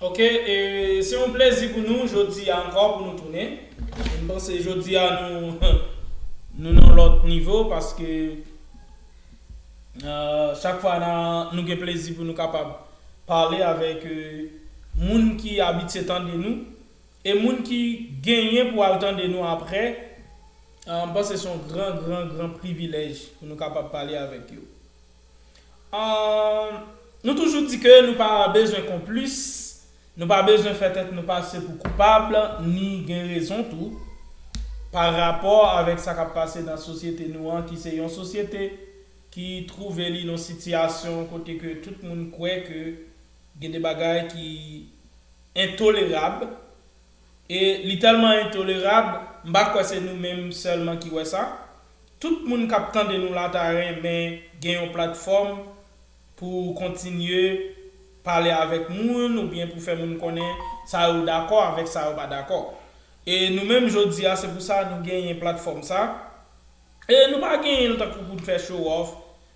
Ok e se yon plezi pou nou jodi a ankò pou nou tounen e m panse jodi a nou nou nan yon lòt nivo paske chak fwa na nou gen plezi pou nou kapab pale avèk moun ki abitye tande nou e moun ki genyen pou al tande nou aprè m panse se yon gran gran gran privilèj pou nou kapab pale avèk yo. Nou toujou di ke nou pa bezwen konplis, nou pa bezwen fè tèt nou pase pou koupab ni gen rezon tou pa rapò avèk sa k ap pase nan sosyete nou an ki se yon sosyete ki twouve li nan sitiyasyon kote ke tout moun kwè ke gen de bagay ki entolerab E li tèlman entolerab, m pa kwè se nou menm sèlman ki wè sa. Tout moun k ap tande nou la ta renmen gen yon platfòm pou kontinye pale avèk moun oubyen pou fè moun konnen sa yo dakò avèk sa yo pa dakò. E nou menm jodi a se pou sa nou genyen platfòm sa. E nou pa genyen l tankou pou n fè show off,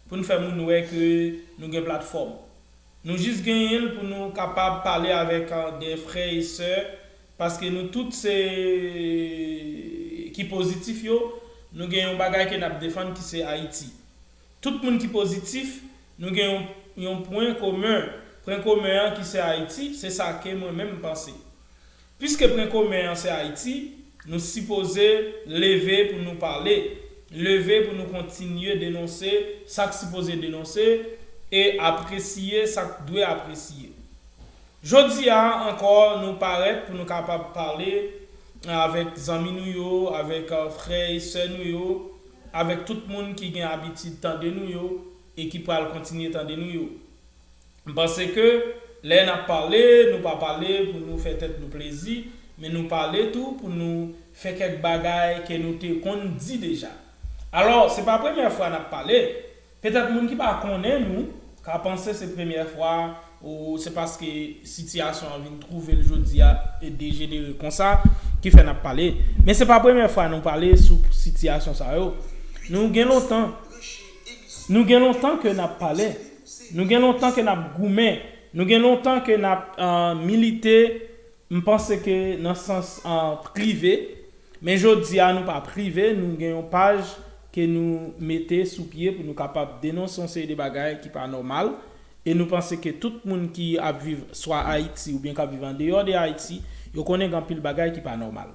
pou n fè moun wè ke nou gen platfòm. Nou jis genyen l pou nou kapab pale avèk de frè e sè, paske nou tout se ki pozitif yo, nou gen yon bagay ke n ap defann ki se Ayiti. Tout moun ki pozitif, nou gen yon yon pwen komen, pwen komen an ki se Ayiti, se sa ke mwen menm m panse. Piske pwen komen an se Ayiti, nou sipoze leve pou nou pale, leve pou nou kontinye denonse sa k sipoze denonse e apresiye sa k dwe apresiye. Jodi a ankò nou parèt pou nou kapab pale avèk zanmi nou yo, avèk frè e sè nou yo, avèk tout moun ki gen abitid tande nou yo e ki pral kontinye tande nou yo. M panse ke lè n ap pale, nou pa pale pou nou fè tèt nou plezi, men nou pale tou pou nou fè kèk bagay ke nou te konn di deja. Alò, se pa premyè fwa n ap pale. Petèt moun ki pa konnen nou ka panse se premyè fwa ou se paske sitiyasyon an vin twouve l jodi a dejenere konsa ki fè n ap pale. Men se pa premyè fwa nou pale sou sitiyasyon sa yo. Nou gen lontan, nou gen lontan ke n ap pale. Nou gen lontan ke nap goumen, nou gen lontan ke nap milite, m panse ke nan sans prive, men jodi a nou pa prive, nou gen yon paj ke nou mete sou pye pou nou kapab denonse yon seri de bagay ki pa nòmal, e nou panse ke tout moun ki ap viv swa Ayiti oubyen kap viv andeyò de Ayiti, yo konnen gen anpil bagay ki pa nòmal.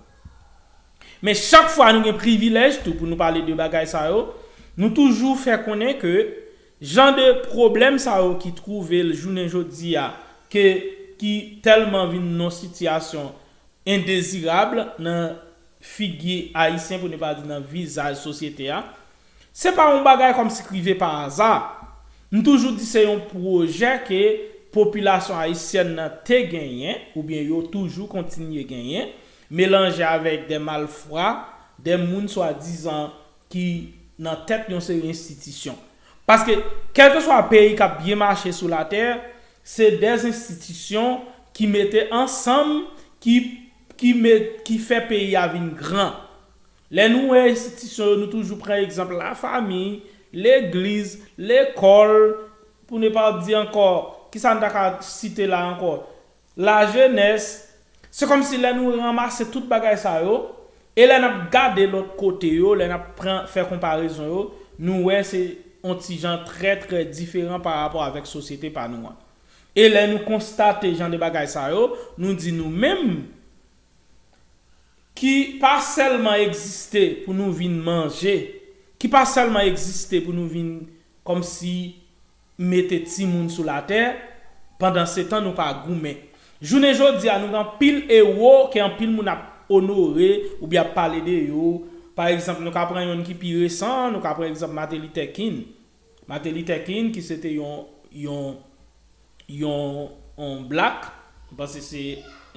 Men chak fwa nou gen privilèj tou pou nou pale de bagay sa yo, nou toujou fè konnen ke Jan de pwoblèm sa yo ki twouve l jounen jodi a ke ki tèlman vin yon sitiyasyon endezirab nan figi Ayisyen pou ne pa di nan vizaj sosyete a, se pa yon bagay kòmsi k rive pa aza. M toujou di se yon pwojè ke popilasyon ayisyèn nan te genyen oubyen yo toujou kontinye genyen, melanje avèk de malfra, de moun swadizan ki nan tèt yon seri enstitisyon. Paske kèlkeswa peyi k ap byen mache sou latè, se de enstitisyon ki mete ansanm ki ki met ki fè peyi a vin gran. Lè nou wè enstitisyon yo nou toujou pran egzanp lafanmi, legliz, lekòl, pou ne pa di ankò, kisa n ta ka site la ankò? Lajenès, Se kòm si lè nou ranmase tout bagay sa yo, e lè n ap gade lòt kote yo, lè n ap pran fè konparezon yo, nou wè se on ti jan trè trè diferan pa rapò avèk sosyete pa nou an. E lè nou konstate jan de bagay sa yo, nou di nou menm, ki pa sèlman egziste pou nou vin manje, ki pa sèlman egziste pou nou vin kòm si mete timoun sou latè, pandansetan nou pa goumen. Jounen jodi a nou gen anpil ewo ke anpil moun ap onore oubyen ap pale de yo, pa egzanp nou ka pran yonn ki pi resan an, nou ka pran egzanp Mate Litè Kin. Mate Litè Kin ki se te yon yon yon yon black, m panse se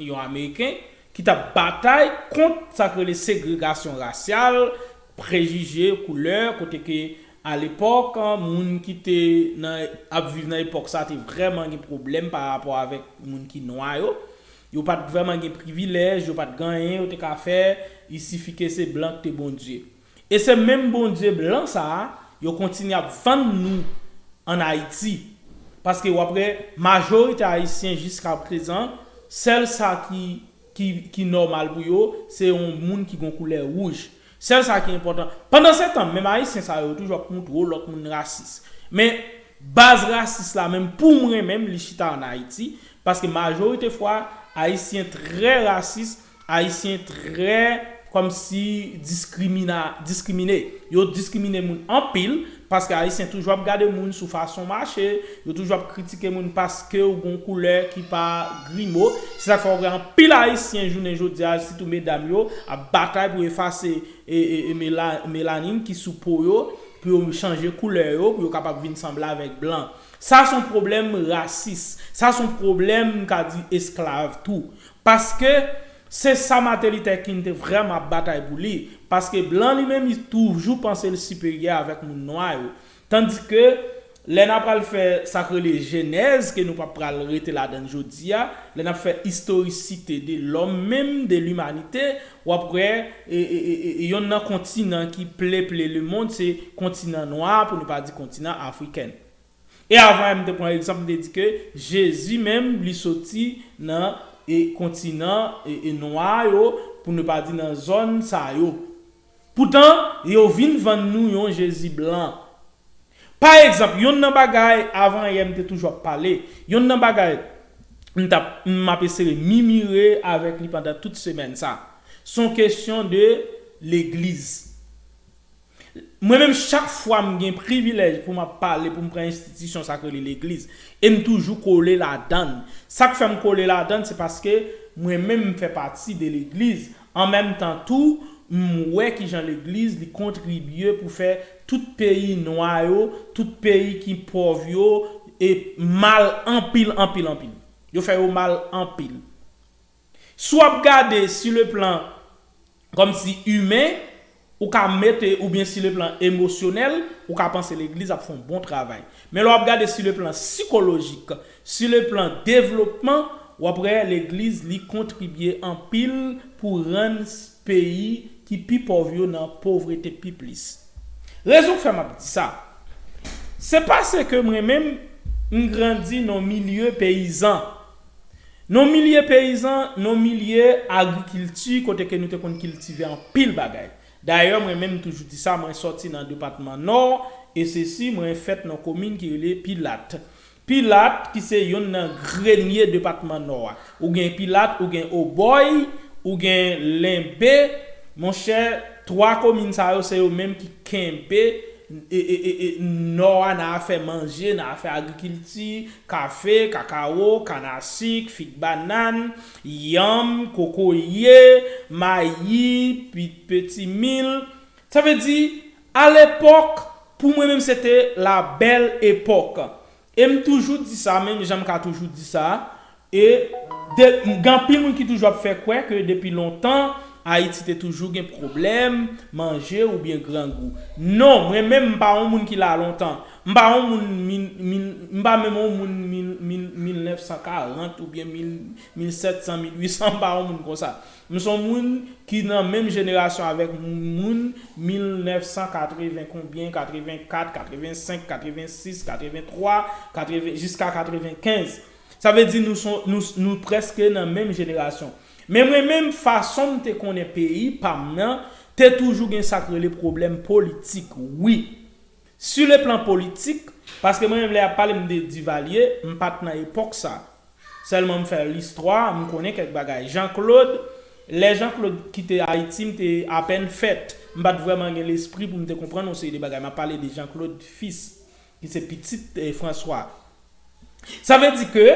yon ameriken, ki t ap batay kont sa k rele segregasyon rasyal, prejije koulè kote ke a lepòk moun ki te nan ap viv nan epòk sa te vrèman gen pwoblèm pa rapò avèk moun ki nwa yo, yo pa t vrèman gen privilèj, yo pa t gen anyen yo te ka fè, isifike se blan ki te Bondye. E se menm Bondye blan sa a yo kontinye ap vann nou an Ayiti. Paske w ap wè majorite Ayisyen jiska prezan sèl sa ki ki nòmal pou yo, se yon moun ki gen yon koulè wouj. Sèl sa ki enpòtan. Pandansetan, menm Ayisyen sa yo toujou ap montre w lòt moun rasis. Men, baz rasis la menm, pou mwen menm, li chita ann Ayiti, paske majorite fwa, Ayisyen trè rasis, Ayisyen trè kòmsi diskrimina, diskrimine. Yo diskrimine moun anpil, Paske ayisyen toujou ap gade moun sou fason mache, yo toujou ap kritike moun paskew gon koulè ki pa grimo, se sak fè wap wè anpil ayisyen jounen jodia sitou medam yo ap batay pou efase melanin ki sou po yo pou yo chanje koulè yo pou yo kapab vin sanble avèk blan. Sa son pwoblèm rasis, sa son pwoblèm mka di esklav tou. Paske. Se sa Martin Luther King te vrèman ap batay pou li, paske blan li menm li toujou panse l siperyè avèk moun nwa yo. Tandike, lè n apral fè sa k rele jenèz ke nou pa pral rete ladan l jodi a, lè n ap fè istorisite de lòm menm, de limanite, w ap wè yonn nan kontinan ki pleple lemond se kontinan nwa a pou nou pa di kontinan afriken. E avan em te pran egzanp m te di ke Jezi menm li soti nan e kontinan e nwa yo pou ne pa di nan zòn sa yo. Poutan yo vin vann nou yon Jezi blan. Pa egzanp yonn nan bagay avan yè m te toujou ap pale, yonn nan bagay m t ap m ap esere mimire avèk li pandan tout semèn sa. S on kesyon de legliz. Mwen menm chak fwa m gen privilèj pou m ap pale pou m pran enstitisyon sa k rele legliz e m toujou kole ladann. Sa k fè m kole ladann se paske mwen menm m fè pati de legliz an menm tan tou m wè kijan legliz li kontribye pou fè tout peyi nwa yo, tout peyi ki pòv yo e mal anpil anpil anpil. Yo fè yo mal anpil. Si w ap gade si le plan kòm si imen, ou ka mete ou byen si le plan emosyonèl, ou ka panse legliz ap fè yon bon travay. Men lè w ap gade si le plan sikolojik, si le plan devlopman, w ap wè legliz li kontribye anpil pou rann peyi ki pi pòv yo nan povrete pi plis. Rezon k fè m ap di sa, se pase ke mwen menm m grandi nan milye peyizan, Non milye peyizan, non milye agrikilti kote ke nou te konn kiltive anpil bagay. Dayè mwen menm m toujou di sa mwen sòti nan depatman Nò e se si mwen fèt nan komin ki rele Pilat. Pilat ki se yonn nan grenye depatman Nò a. Ou gen Pilat, ou gen Obòy, ou gen Lenbe, mon chè 3 komin sa yo se yo menm ki kenbe e e e e Nò a nan afè manje, nan afè agrikilti, kafe, kakawo, kannasik, fig banann, yanm, kokoye, mayi, pit petimil, sa vle di alepòk pou mwen menm se te la bèl epòk e m toujou di sa menm jan m ka toujou di sa e de gen anpil moun ki toujou ap fè kwè ke depi lontan Ayiti te toujou gen pwoblèm manje oubyen grangou non mwen menm m pa yon moun ki la lontan M pa on moun min, min, m pa menm on moun min, min, 1940 oubyen min, 1700, 1800, m pa on moun konsa. M son moun ki nan menm jenerasyon avèk m, moun 1980 konbyen, 84, 85, 86, 83, 80, jiska 95. Sa vle di nou son, nou, nou prèske nan menm jenerasyon. Men mwen menm, fason m te konnen peyi pa m nan, te toujou gen sa k rele pwoblèm politik, wi. Su le plan politik, paske mwen menm lè yap pale m de Divalye, m pat nan epòk sa. Sèlman m fè listwa, m konnen kèk bagay. Jan Klod, lè Jan Klod kite Ayiti m te apèn fèt. M pat vrèman gen lespri pou m te konprann yon seri de bagay. M ap pale de Jan Klod Fis, ki se pitit Franswa. Sa vle di ke,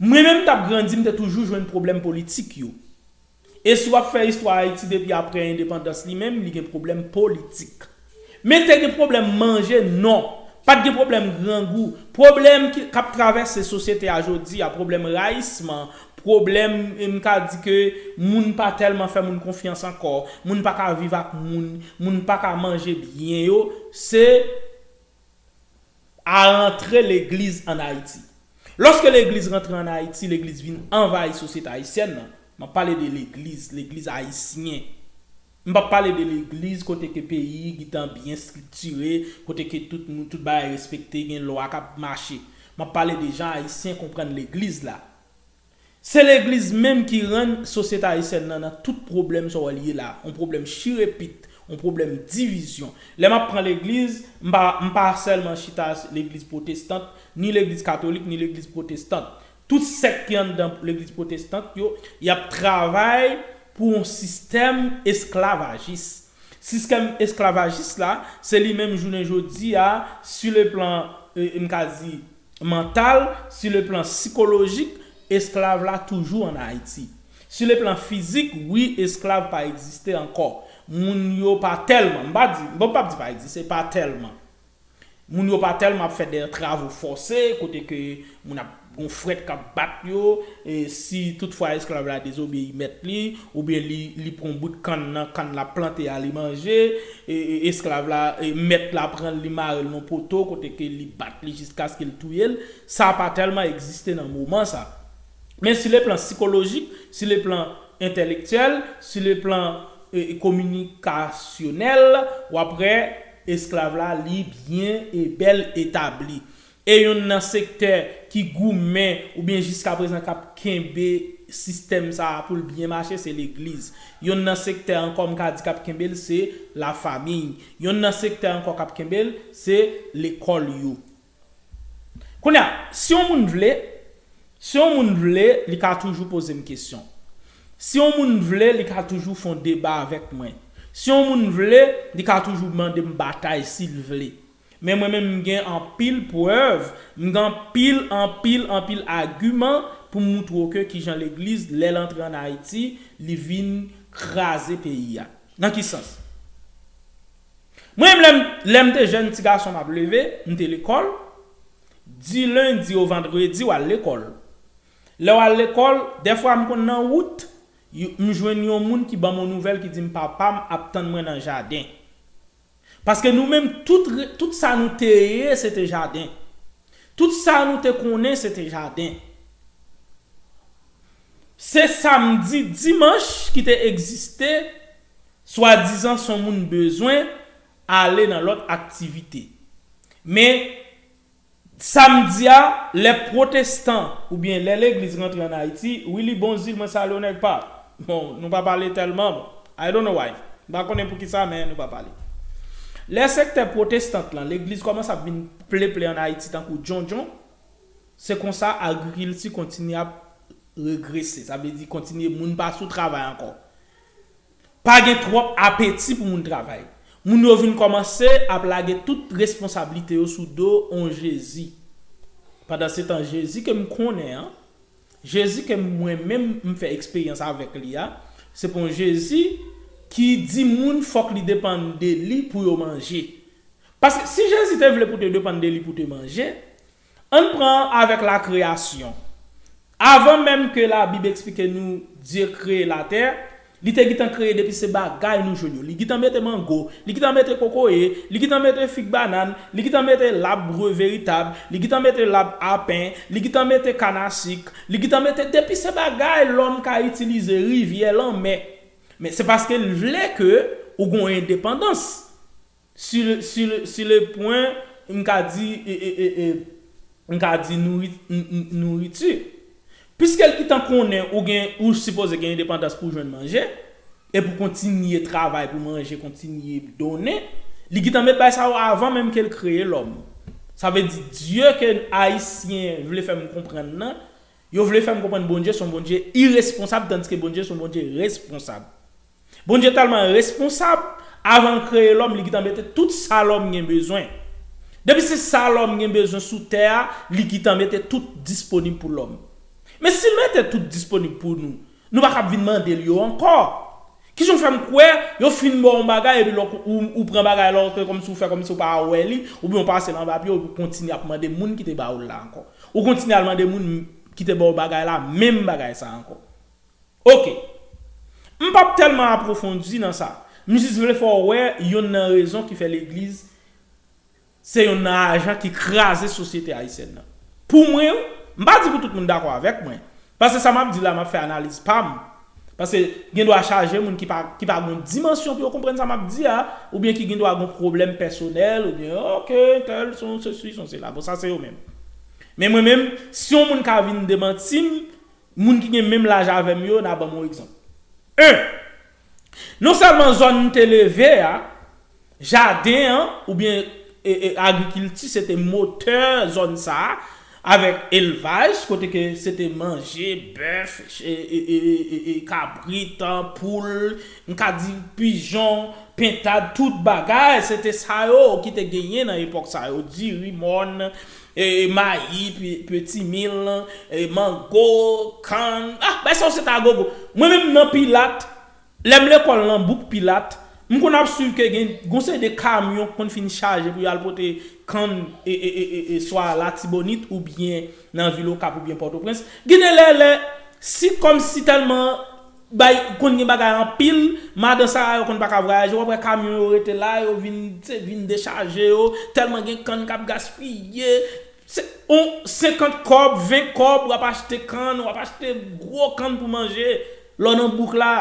mwen menm m tap grandi m te toujou jwenn pwoblèm politik yo. E si w ap fè istwa Ayiti depi aprè endepandans li menm li gen pwoblèm politik. Men te gen pwoblèm manje? Non. Pa t gen pwoblèm grangou. Pwoblèm ki k ap travèse sosyete a jodi a, pwoblèm rayisman, pwoblèm m ka di ke moun pa tèlman fè moun konfyans ankò, moun pa ka viv ak moun, moun pa ka manje byen yo, se. a rantre legliz ann Ayiti. Lòske legliz rantre ann Ayiti, legliz vin anvayi sosyete ayisyèn nan. M ap pale de legliz, legliz ayisyen. M p ap pale de legliz kote ke peyi gitan byen striktire, kote ke tout moun, tout bagay respekte, gen lwa k ap mache. M ap pale de jan ayisyen konprann legliz la. Se legliz menm ki rann sosyete ayisyèn nan nan tout pwoblèm sa w wè l ye la a, on pwoblèm chirepit, on pwoblèm divizyon. Lè m ap pran legliz, m pa m pa sèlman chita sou legliz pwotestant, ni legliz katolik, ni legliz pwotestant. Tout sèk ki anndan legliz pwotestant yo, y ap travay pou on sistèm esklavajis. Siskèm esklavajis la, se li menm jounen jodi a, sileplan, m ka di, mantal, su le plan sikolojik, esklav la toujou an Ayiti. Su le plan fizik, wi esklav pa egziste ankò. Moun yo pa tèlman, m pa di, bon m pap di pa egziste, pa tèlman. Moun yo pa tèlman ap fè dè travo fòse, kote ke moun ap, gon frèt k ap bat yo, e si tout fwa esklav la dezobeyi mèt li, Oubyen li pran yon bout kann nan kann l ap plante a li manje, esklav la, mèt la pran l li mare l nan yon poto kote ke li bat li jiskaske l touye l, sa pa tèlman egziste nan moman sa. Men si le plan sikolojik, si le plan entèlektyèl, si le plan kominikasyonèl, w ap wè esklav la li byen e bèl etabli. E yonn nan sektè ki goumen oubyen jiskaprezan k ap kenbe sistèm sa a pou l byen mache se legliz. Yonn nan sektè ankò m ka di k ap kenbe l se lafamiy. Yonn nan sektè ankò k ap kenbe l se lekòl yo. Kounye a, si yon moun vle, si yon moun vle li ka toujou poze m kesyon. Si yon moun vle li ka toujou fon deba avèk mwen. Si yon moun vle li ka toujou mande m batay si l vle. Men mwen menm m gen anpil prèv, m gen anpil, anpil, anpil agiman pou m moutre w ke kijan legliz lè l antre an Ayiti, li vin kraze peyi a. Nan ki sans? Mwen menm lè m, lè m te jèn ti gason m ap leve, m te lekòl, di lendi o vandredi w al lekòl. Lè w al lekòl, dèfwa m konn nan wout, m jwenn yon moun ki ban m on nouvèl ki di m papa m ap tann mwen nan jaden. Paske nou menm tout tout sa nou te ye se te jaden. Tout sa nou te konnen se te jaden. Se samdi, dimanch ki te egziste, swadizan son moun bezwen ale nan lòt aktivite. Men, Sa m di a, lè pwotestan oubyen lè legliz rantre an Ayiti, Willy Bonzil mwen salye w nèg pa m. Bon, nou pa pale tèlman bon. I don't know why. M pa konnen poukisa men nou pa pale. Lè sektè pwotestant lan, legliz kòmanse ap vin pleple an Ayiti tankou djondjon, se konsa agrikilti kontinye ap regrese. Sa vle di kontinye moun pa sou travay ankò. Pa gen twòp apeti pou moun travay. Moun yo vin kòmanse ap lage tout responsablite yo sou do on Jezi. Pandansetan Jezi ke m konnen an, Jezi ke mwen menm m fè eksperyans avèk li a, se pon Jezi ki di moun fòk li depann de li pou yo manje. Paske si Jezi te vle pou te depann de li pou te manje, Ann pran avèk lakreyasyon. Avan menm ke Labib eksplike nou Dye kreye latè, li te gitan kreye depi se bagay nou jwenn yo. Li gitan mete mango, li gitan mete kokoye, li gitan mete fig banann, li gitan mete lab bre veritab, li gitan mete lab apen, li gitan mete kanasik, li gitan mete depi se bagay lòm ka itilize, rivyè, lanmè. Men se paske l vle ke ou gon endepandans. Su le pwen m ka di m ka di nouriti. Piske l itan konnen ou gen ou sipoze gen endepandans pou w jwenn manje, e pou kontinye travay pou manje kontinye donnen, li gitan met bay sa yo avan menm ke l kreye lòm. Sa vle di dye ke Ayisyen vle fè m konprann nan, Yo vle fè m konprann Bondye s on Bondye iresponsab tandiske Bondye s on Bondye responsab. Bondye tèlman responsab, avan l kreye lòm li gitan mete tout sa lòm gen bezwen. Depi se sa lòm gen bezwen sou tè a li gitan mete tout disponib pou lòm. Men si l mete tout disponib pou nou, Nou pa kab vin mande l yo ankò. Ki jan w fè m kwè yo fin ba w yon bagay epi lè ou pran bagay la ou fè kòmsi ou fè kòmsi ou pa wè li oubyen ou pase l anba pye w epi ou kontinye ap mande moun ki te ba w l la ankò? Ou kontinye al mande moun ki te ba w bagay la menm bagay sa a ankò. Oke. M pap tèlman apwofondi nan sa. M jis vle fè w wè yonn nan rezon ki fè legliz Se yonn nan ajan ki kraze sosyete ayisyèn nan. Pou mwen, m pa di pou tout moun dakò avèk mwen, paske sa m ap di la m ap fè analiz pa m, paske gen dwa chaje moun ki pa ki pa gon dimansyon pou yo konprann sa m ap di a, oubyen ki gen dwa gon pwoblèm pèsonèl oubyen ok entèl son sesi son sela bon sa se yo menm. Men mwen menm si yon moun ka vin demanti m, moun ki gen menm laj avè m yo na ban m yon egzanp. 1. Non sèlman zòn m te leve a, jaden an oubyen agrikilti se te motè zòn sa a avèk elvaj kote ke se te manje bèf, kabrit, poul, m ka di pijon, pentad, tout bagay se te sa yo ki te genyen nan epòk sa yo, diri, mòn, Mayi, peti mil, mango, kann, ah bay sa yo se ta gogo. Mwen menm nan Pilat, lè m lekòl nan bouk Pilat, m konn ap swiv ke gen yon seri de kamyon ki konn fin chaje pou yo al pote kann swa Latibonit oubyen nan vil Okap oubyen Pòtoprens. Gen de lè lè si kòmsi tèlman Bay konn gen bagay anpil, madan sara yo konn paka vwayaje wap wè kamyon yo rete la yo vin se vin dechaje yo, tèlman gen kann kap gaspiye, se on 50 kòb 20 kòb wap achte kann wap achte gwo kann pou manje lò nan bouk la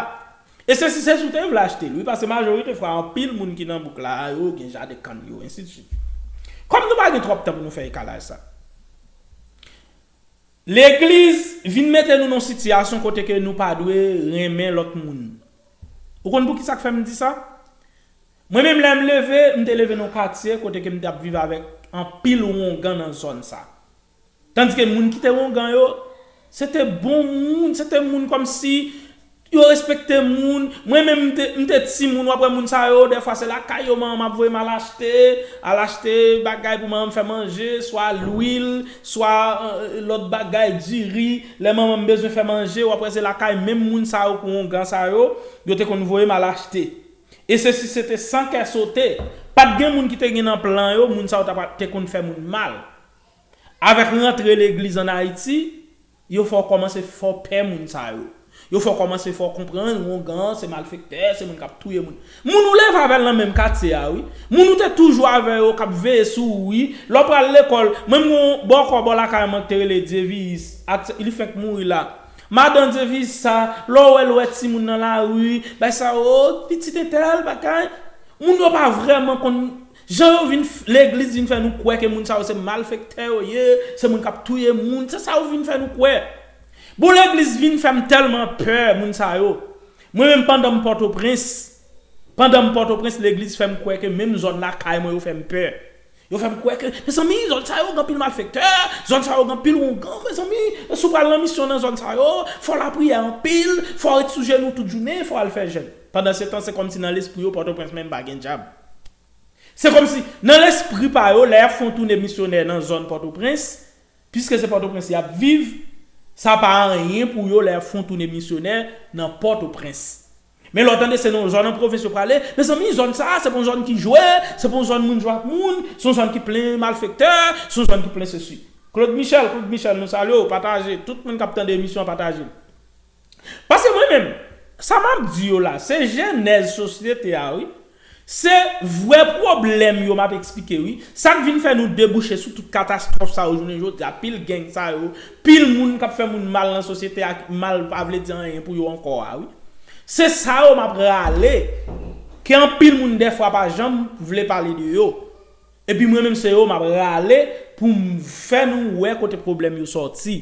e se si se si w te vle achte l wi pase majorite fwa anpil moun ki nan bouk la yo gen jaden kann yo ensidsuit kòm nou pa gen twòp tan pou nou fè ekalaj sa. Legliz vin mete nou nan sitiyasyon kote ke nou pa dwe renmen lòt moun. Ou konn poukisa k fè m di sa? Mwen menm lè m leve, m te leve nan yon katye kote ke m t ap viv avèk anpil wongan nan zòn sa. Tandis ke moun ki te wongan yo, se te bon moun, se te moun kòmsi, Yo respekte moun, mwen menm m te m te timoun wap wè moun sa yo dèfwa se lakay yo manman m ap voye m al achte, al achte bagay pou manman m fè manje, swa lwil, swa lòt bagay, diri, lè manman m bezwen fè manje wap wè se lakay menm moun sa yo kourongan sa yo, yo te konn voye m al achte. E se si se te san kè sote, pat gen moun ki te gen nan plan yo moun sa yo ta pa te konn fè moun mal. Avèk rantre legliz an Ayiti, Yo fè w kòmanse fè w pè moun sa yo. Yo fè w kòmanse fè w konprann wongan se malfektè, se moun k ap touye moun. Moun ou leve avè l nan menm katye a wi. Moun ou te toujou avè yo k ap veye sou ou wi. Lè w pral lekòl, mwen m gen yon bòkò bò lakay mwen k te rele Dyeviyis, aktè, li fèk mouri la. Madan Dyeviyis sa, lè w wè l, ou wè timoun nan lari, bay sa, oo, pitit entèl, bagay. Moun yo pa vrèman konn Jan yo vin f legliz vin fè nou kwè ke moun sa yo se malfektè yo ye, se moun kap touye moun, se sa yo vin fè nou kwè. Bon legliz vin fèm tèlman pè moun sa yo. Mwen menm pandanm pòtoprens, pandanm pòtoprens legliz fèm kwè ke menm zòn lakay mwen yo fèm pè. Yo fèm kwè ke mezanmi zòn sa yo gen anpil malfektè, zòn sa yo gen anpil wongan mezanmi, si w pral nan misyon nan zòn sa yo, fò w lapriyè anpil, fò w ret sou jenou tout jounen, fò w al fè jèn. Pandansetan, se kòmsi nan lespri yo Pòtoprens menm pa gen dyab. Se kòmsi, nan lespri pa yo, lè y ap fè yon toune misyonè nan zòn Pòtoprens, piske se Pòtoprens y ap viv, sa pa anyen pou yo lè y ap fè yon toune misyonè nan Pòtoprens. Men lè w tande se nan yon zòn an pwovens yo prale, mezanmi zòn sa a se pa yon zòn ki jwe, se pa yon zòn moun jwe ak moun, se yon zòn ki plen malfektè, se yon zòn ki plen sesi. Claude Michel, Claude Michel, nou salye w, pataje, tout moun k ap tande emisyon an pataje l. Paske mwen menm, sa map di yo la, se jenèz sosyete a wi. Se vrè pwoblèm yo map eksplike wi. Sak vin fè nou debouche sou tout katastwòf sa yo jounen jodi a, pil geng sa yo, pil moun kap fè moun mal nan sosyete a, mal pa vle di anyen pou yo ankò a wi. Se sa yo map rale, ke anpil moun dèfwa pa janm vle pale de yo. Epi mwen menm se yo map rale poum fè nou wè kote pwoblèm yo sòti.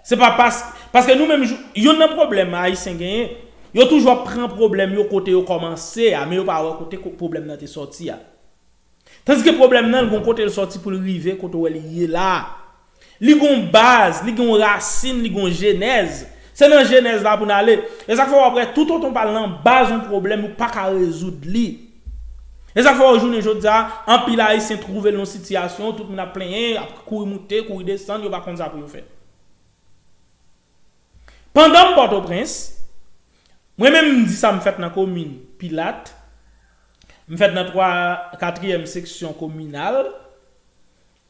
Se pa pask, paske nou menm yonn nan pwoblèm ayisyen genyen, yo toujou ap pran pwoblèm yo kote yo kòmanse a men yo pa wè kote pwoblèm nan te sòti a. Tandiske pwoblèm nan l gon kote l sòti poul rive kote w wè li ye la a. Li gen yon baz, li gen yon rasin, li gen yon jenèz. Se nan jenèz la pou n ale. E sa k fè w ap wè tout otan w pa al nan baz yon pwoblèm ou pa ka rezoud li. E sa k fè wè jounen jodi a, anpil Ayisyen twouve l nan yon sitiyasyon, tout moun ap plenyen, y ap kouri moute, kouri desann, yo pa konn sa pou yo fè. Pandan m Pòtoprens, mwen menm m di sa m fèt nan komin Pilat, m fèt nan twa katriyèm seksyon kominal,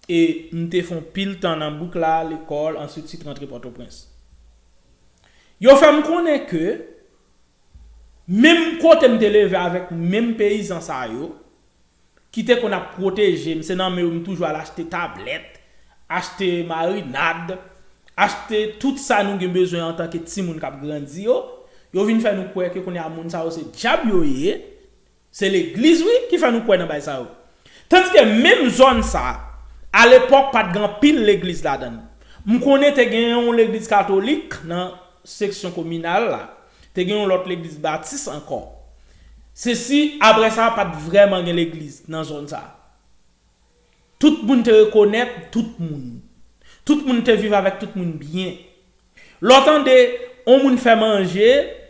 E m te fon pil tan nan bouk la, lekòl, answit sit rantre Pòtoprens. Yo fè m konnen ke menm kote m te leve avèk menm peyizan sa yo, ki te konn ap pwoteje m, se nan men yo m toujou al achte tablèt, achte marinad, achte tout sa nou gen bezwen antanke timoun k ap grandi yo, yo vin fè nou kwè ke kounye a moun sa yo se dyab yo ye, Se legliz wi ki fè nou kwè nan bay sa yo. Tandiske menm zòn sa, a lepòk pat gen anpil legliz ladann. M konnen te gen yon legliz katolik nan seksyon kominal la, te gen yon lòt legliz batis ankò. Se si aprè sa pat vrèman gen legliz nan zòn sa. Tout moun te rekonèt tout moun. Tout moun te viv avèk tout moun byen. Lè w tande yon moun fè manje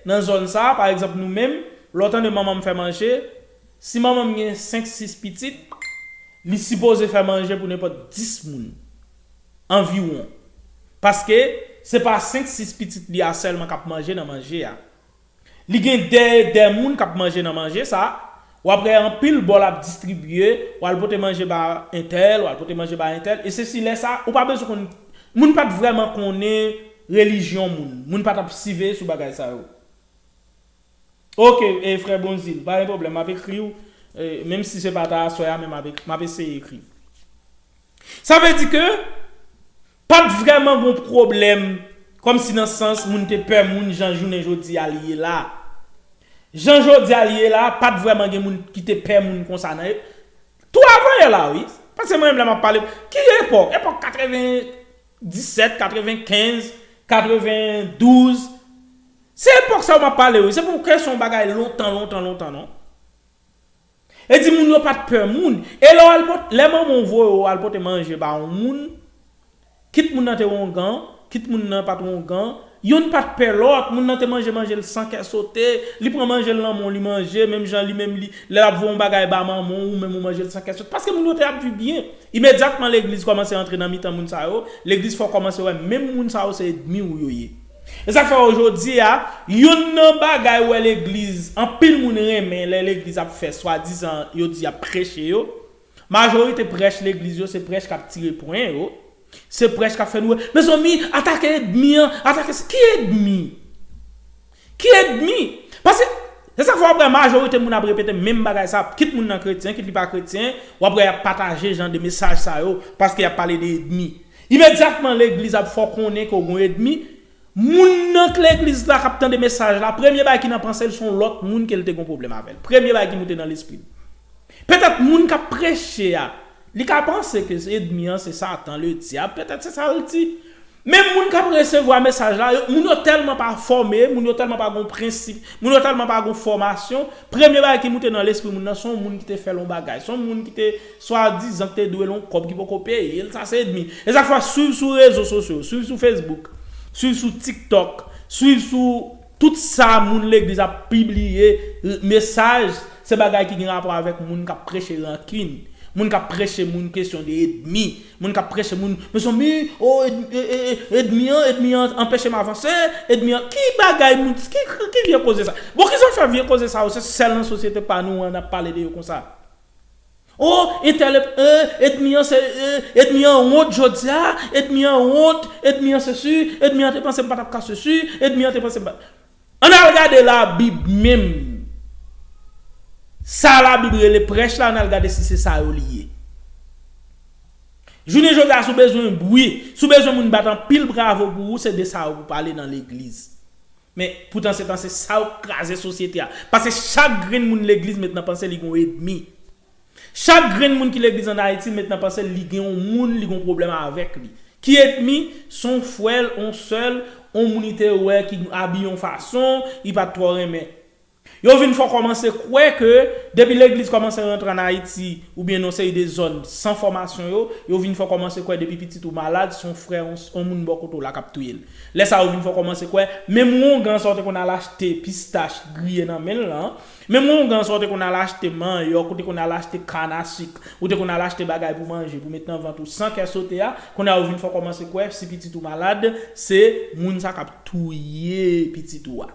nan zòn sa a, pa egzanp nou menm, lè w tande manman m fè manje, si manman m gen senk sis pitit, li sipoze fè manje pou nenpòt dis moun, anviwon. Paske, se pa senk sis pitit li a sèlman k ap manje nan manje a. Li gen dè e dè moun kap manje nan manje sa, wap wè anpil bòl ap distribye, wal pote manje ba entèl, wal pote manje ba entèl, e sesi lè sa, ou pa bezwen konn, moun pat vrèman konnen relijyon moun, moun pa tap siveye sou bagay sa yo. Ok e frè Bonzil, pa gen pwoblèm map ekriw, menm si se pa ta aswè a men map eseye ekriw. Sa vle di ke Pat vrèman gon pwoblèm kòm si nan sans moun te pè moun jan jounen jodi a li ye la. Jan jodi a li ye la pat vrèman gen moun ki te pè moun konsa nan epòk tou avan yè la wi. Paske mwen menm lè map pale ki epòk epòk 80 17 95 92 se epòk sa yo map pale wi se pou kè son bagay lontan lontan lontan non. E di moun yo pat pè moun. E lè w al pot, lè manman w voye w al pote manje ba yon moun, kit moun nan te wongan, kit moun nan pat wongan, yonn pat pè lòt, moun nan te manje manje l san kè sote, li pran manje l nan men w li manje, menm jan li menm li, lè l ap voye yon bagay ba manman w, ou menm ou manje l san kè sote. Paske moun yo te ap viv byen. Imedyatman legliz kòmanse antre nan mitan moun sa yo, legliz fè w kòmanse wè menm moun sa yo se edmi w yo ye. E sak fè ojodia youn nan bagay wè legliz anpil moun renmen lè legliz ap fè swadizan yo di yap preche yo majorite prèch legliz yo se prèch kap tire pwen yo se prèch kap fè nou wè mezanmi atake edmi an atake sa ki edmi ki edmi paske se sak fè wap wè majorite moun ap repete menm bagay sa kit moun nan kretyen kit li pa kretyen wap wè yap pataje jan de mesaj sa yo paske yap pale de edmi Imedyatman legliz ap fè w konnen ke w gen yon edmi, moun nan k legliz la k ap tande mesaj la, premye bagay ki nan panse l se yon lòt moun ke l te gen yon pwoblèm avè l. Premye bagay ki moute nan lespri l. Petèt moun k ap preche a, li ka panse ke edmi an se satan, le dyab, petèt se sa l di. Men moun k ap resevwa mesaj la, moun yo tèlman pa fòme, moun yo tèlman pa gen yon prensip, moun yo tèlman pa gen yon fòmasyon, premye bagay ki moute nan lespri moun nan se yon moun ki te fè l yon bagay, se yon moun ki te Swadizan te dwe l yon kòb ki poko peye l sa se edmi. E zak fè swiv sou rezo sosyo, swiv sou Facebook, swiv sou tiktok, swiv sou tout sa moun legliz ap pibliye mesaj se bagay ki gen rapò avèk moun kap preche rankin, moun kap preche moun kesyon de edmi, moun kap preche moun mezanmi o edmi an edmi an anpeche m avanse, edmi an ki bagay moun ki vye koze sa. Bon kisa w fè vye koze sa yo se sèl nan sosyete pa nou an nap pale de yo konsa. Oh entèlep eh edmi an se eh edmi an wont jodia edmi an wont edmi an sesi edmi an te panse m patap ka sesi edmi an te panse m pat Ann al gade labib menm sa labib rele prèch la ann al gade si se sa yo li ye jounen jodia si w bezwen bri si w bezwen moun bat anpil bravo pou ou se de sa yo pou pale nan legliz Men, poutan se panse sa yo k kraze sosyete a. Pase chak grenn moun legliz met nan panse li gon edmi. Chak grenn moun ki legliz an Ayiti met nan panse l li gen on moun li gon pwoblèm avèk li. Ki edmi? S on frè l, on sè l, on moun li te wè ki abiye on fason, li pa t twò renmen. Yo vin fon kòmanse kwè ke depi legliz kòmanse rantre an Ayiti oubyen nan yon seri de zòn san fòmasyon yo, yo vin fon kòmanse kwè depi pitit ou malad son frè yon moun bò kote w la k ap touye l. Lè sa yo vin fon kòmanse kwè menm wongan sa w te konn al achte pistach griye nan men l lan, menm wongan sa w te konn al achte manyòk, ou te konn al achte kann a sik, ou te konn al achte bagay pou manje pou met nan vant ou san kè sote a, kounye a yo vin fon kòmanse kwè si pitit ou malad se moun sa k ap touye pitit ou a.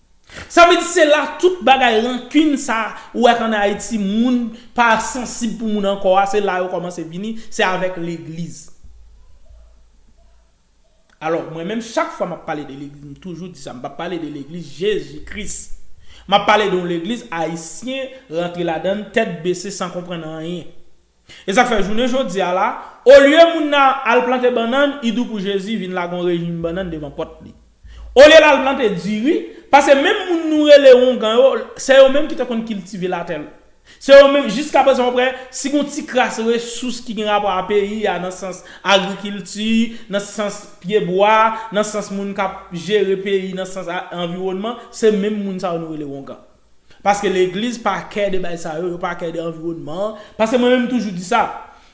Sa vle di se la tout bagay rankin sa ou wè an Ayiti moun pa sansib pou moun ankò a se la yo kòmanse vini se avèk legliz. Alò mwen menm chak fwa map pale de legliz m toujou di sa m pa pale de legliz Jezi Kris map pale de yon legliz ayisyen rantre ladann tèt bese san konprann anyen. E sak fè jounen jodia la, olye moun nan al plante bannann, idou pou Jezi vin lage yon rejim bannann devan pòt li. Olye l al plante diri, pase menm moun nou rele wongan yo, se yo menm ki te konn kiltive latè. Se yo menm, jiska prezan ou prè, si gon ti kras resous ki gen rapò a peyi a nan sans agrikilti, nan sans pye bwa, nan sans moun k ap jere peyi nan sans anviwònman, se menm moun sa yo nou rele wongan. Paske legliz pa kè de bay sa yo, yo pa kè de anviwònman an, paske mwen menm m toujou di sa,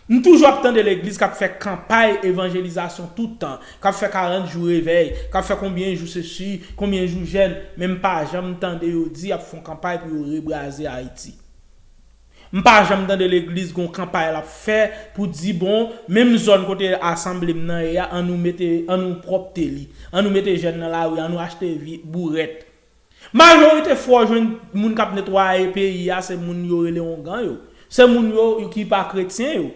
m toujou ap tande legliz kap fè kanpay evanjelizasyon tout tan, kap fè 40 jou revèy, kap fè konbyen jou sesi, konbyen jou jèn, men m pa janm tande yo di yap fon kanpay pou yo rebraze Ayiti. M pa janm tande legliz gon kanpay lap fè pou di bon, menm zòn kote asanble m nan ye a an nou mete, an nou pwòpte li, an nou mete jèn nan lari, an nou achte vi, bourèt. Majorite fwa w jwenn moun kap netwaye peyi a se moun yo rele ongan yo. Se moun yo ki pa kretyen yo.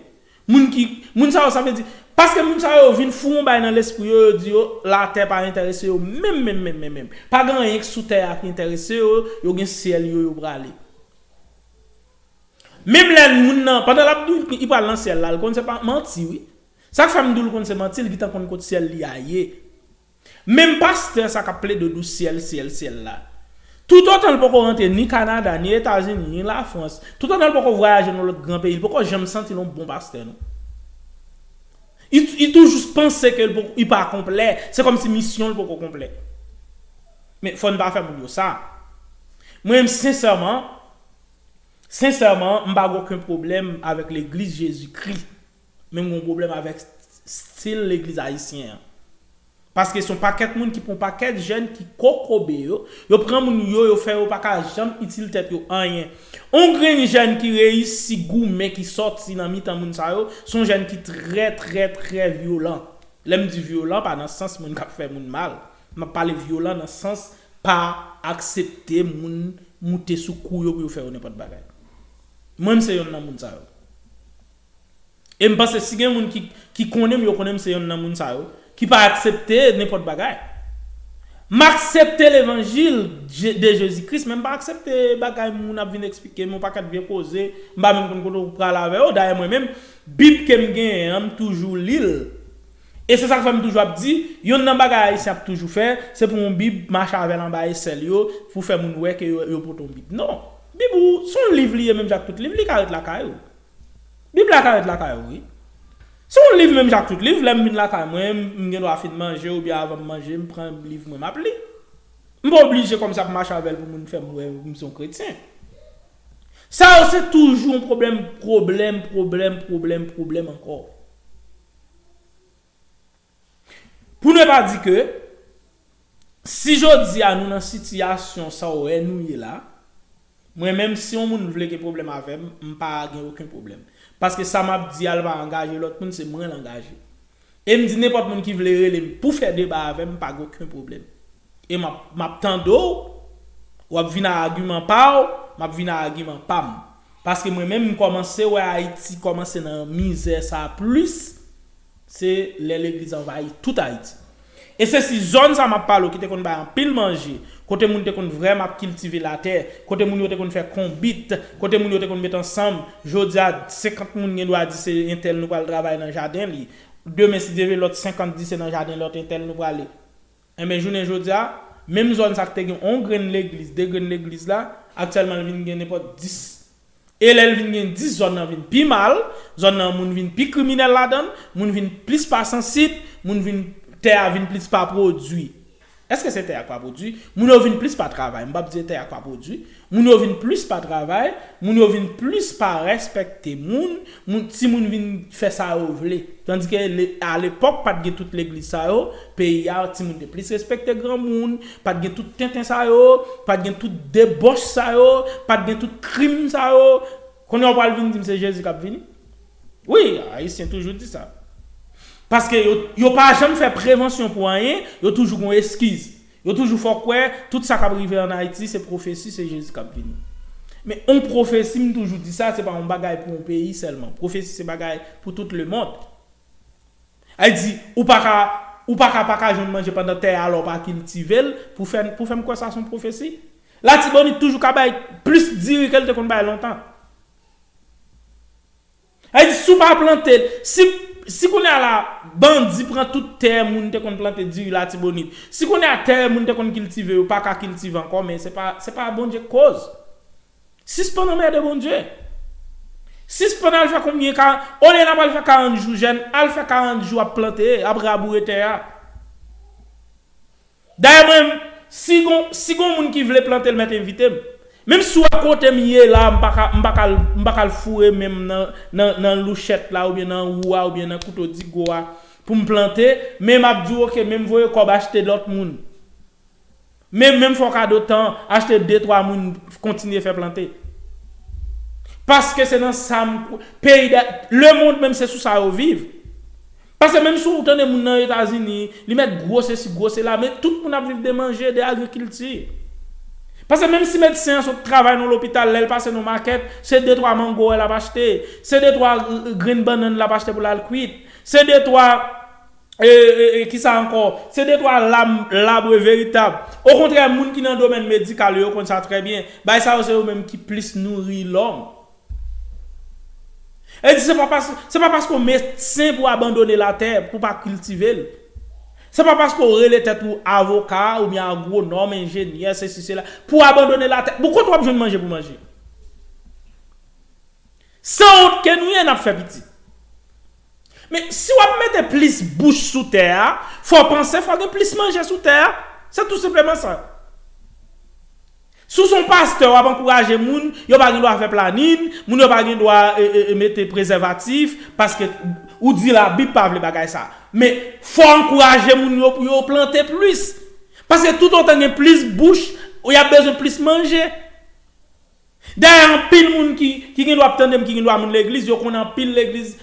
Moun ki, moun sa yo sa vle di, paske moun sa yo vin foure yon bagay nan lespri yo, yo di yo latè pa entèrese yo menm menm menm menm menm. Pa gen anyen ki sou tè a ki entèrese yo, yo gen syèl yo yo prale. Menm lè moun nan, pandan lap di w li pral nan syèl la, li konn se pa manti wi. Sak fè m di w li konn se manti, li gintan konn kot syèl li a ye. Menm pastè sa kap plede dou syèl syèl syèl la. Toutotan l poko rantre ni Kanada, ni Etazini, ni Lafrans, toutotan l poko vwayaje nan lòt gran peyi, l poko janm santi l yon bon pastè non. Li toujou panse ke li pa konplè, se kòmsi misyon l poko konplè. Men fò n pa fè moun yo sa. Mwen menm sensèman, sensèman m pa gen oken pwoblèm avèk legliz Jezikri. Men m gen yon pwoblèm avèk stil legliz ayisyen an. Paske se yon pakèt moun ki pran yon pakèt jèn ki kokobe yo. Yo pran moun yo, yo fè yo pa ka janm itil tèt yo anyen. Yon grenn jèn ki reyisi goumen ki sòti nan mitan moun sa yo, se yon jèn ki trè trè trè vyolan. Lè m di vyolan, pa nan sans moun k ap fè moun mal. M ap pale vyolan nan sans pa aksepte moun moute sou kou yo pou yo fè yo nenpòt bagay. Mwen m se yonn nan moun sa yo. E m panse si gen moun ki ki konnen m yo konnen m se yonn nan moun sa yo ki pa aksepte nenpòt bagay. M aksepte levanjil de Jezi Kris men m pa aksepte bagay moun ap vin eksplike m yon pakèt vye koze m pa menm konn kote w prale avè yo. Dayè mwen menm Bib ke m genyen an m toujou li l e se sa k fè m toujou ap di yonn nan bagay Ayisyen ap toujou fè se pou yon Bib mache avè l anba esèl yo pou fè moun wè ke yo poto yon Bib. Non! Bib ou se yon liv li ye menm jan ak tout liv li ka ret lakay ou. Bib la ka ret lakay ou wi. Se yon liv menm jan ak tout liv, lè m vin lakay mwen, m gen dwa fin manje oubyen avan m manje m pran liv mwen m ap li. M pa oblije kòmsi ap mache avè l pou moun fè m wè m se yon kretyen. Sa yo se toujou yon pwoblèm, pwoblèm, pwoblèm, pwoblèm, pwoblèm ankò. Pou ne pa di ke, si jodi a nou nan sitiyasyon sa w wè nou ye la, mwen menm si yon moun vle gen pwoblèm avè m, m pa gen oken pwoblèm. Paske sa m ap di a l pa angaje lòt moun, se mwen l angaje. E m di nenpòt moun ki vle rele m pou fè deba avè m, m pa gen oken pwoblèm. E m ap m ap tande w, w ap vin a agiman pa w, m ap vin a agiman pa m. Paske mwen menm m kòmanse wè Ayiti kòmanse nan mizè sa a plis. Se lè legliz anvayi tout Ayiti. E se si zòn sa m ap pale w ki te konn bay anpil manje, kote moun te konn vrèman ap kiltive latè, kote moun yo te konn fè konbit, kote moun yo te konn met ansanm, jodi a 50 moun gen dwa di se entèl nou pral travay nan jaden li, demen si Dye vle lòt 50 di se nan jaden lòt entèl nou prale. Enben, jounen jodi a, menm zòn sa ki te gen yon grenn legliz, de grenn legliz la, aktyèlman li vin gen nenpòt dis. E lè li vin gen dis, zòn nan vin pi mal, zòn nan moun vin pi kriminèl ladan l, moun vin plis pa sansib, moun vin, tè a vin plis pa pwodui. Èske se tè a k pa pwodui? Moun yo vin plis pa travay, m p ap di se tè a k pa pwodui, Moun yo vin plis pa travay, moun yo vin plis pa rèspèkte moun, moun timoun vin fè sa yo vle. Tandike le a lepòk pat gen tout legliz sa yo, peyi a timoun te plis rèspèkte granmoun, pat gen tout tenten sa yo, pat gen tout debòch sa yo, pat gen tout krim sa yo. Kounye a ou pral vin dim se Jezi kap vini? Wi, ayisyen toujou di sa. Paske yo yo pa janm fè prevansyon pou anyen, yo toujou gon eskiz. Yo toujou fè w kwè tout sa k ap rive an Ayiti se pwofesi, se Jezi k ap vini. Men yon pwofesi, m toujou di sa, se pa yon bagay pou yon peyi sèlman. Pwofesi se bagay pou tout lemond. Ay di, ou pa ka ou pa ka pa ka jwenn manje pandan tè a la w pa kiltive l pou fè pou fè m kwè sa se yon pwofesi? Latibonit toujou ka bay plis diri ke l te konn bay lontan. Sa vle di si w pa plante, si kounye a la bandi pran tout tè moun te konn plante diri latibonit, si kounye a tè moun te konn kiltive yo pa ka kiltive ankò men se pa Bondye k koz. Sispann anmède Bondye. Sispann al fè konbyen ka, olye n ap al fè 40 jou jèn, al fè 40 jou ap plante, ap raboure tè a. Dayè mwen menm si gon si gon moun ki vle plantel mèt envitem. Menm si w a kotem ye la m paka m paka l m paka l foure menm nan nan nan louchèt la oubyen nan wou a oubyen nan kouto digo a poum plante men map diw ok menm voye kòb achte lòt moun men menm fè w kado tan achte de twa moun kontinye fè plante paske se nan sam kwè peyi da lemond menm se sou sa yo viv Pase menm si w tande moun nan Etazini, li mèt gwo sesi, gwo sela, men tout moun ap viv de manje, de agrikilti. Pase menm si medsen an sot travay nan lopital, lè l pase nan makèt, se de twa mango w wè l ap achte, se de twa grenn bannann l ap achte pou l al kwit, se de twa, ki sa ankò, se de twa lam, labre veritab. Okontrè moun ki nan domèn medikal yo, yo konn sa trè byen, bagay sa yo se yo menm ki plis nouri lòm. Yo di se pa paske, se pa paske w medsen pou w abandone latè, pou w pa kiltive l. Se pa paske w rele tèt ou avoka oubyen agwonòm, enjenyè, sesi sela, pou w abandone latè. Bon kote w ap jwenn manje pou w manje? Sanwont ke nou ye, n ap fè pitit. Men, si w ap mete plis bouch sou tè a, fò w panse fò gen plis manje sou tè a. Se tou senpleman sa. Si w se yon pastè w ap ankouraje moun, yo pa gen dwa fè planin, moun yo pa gen dwa mete prezèvatif, paske ou di labib pa vle bagay sa. Men, fò w ankouraje moun yo pou yo plante plis. Paske toutotan gen plis bouch, y ap bezwen plis manje. Dayè anpil moun ki gen dwa ap tande m, ki gen dwa moun legliz, yo konn anpil legliz,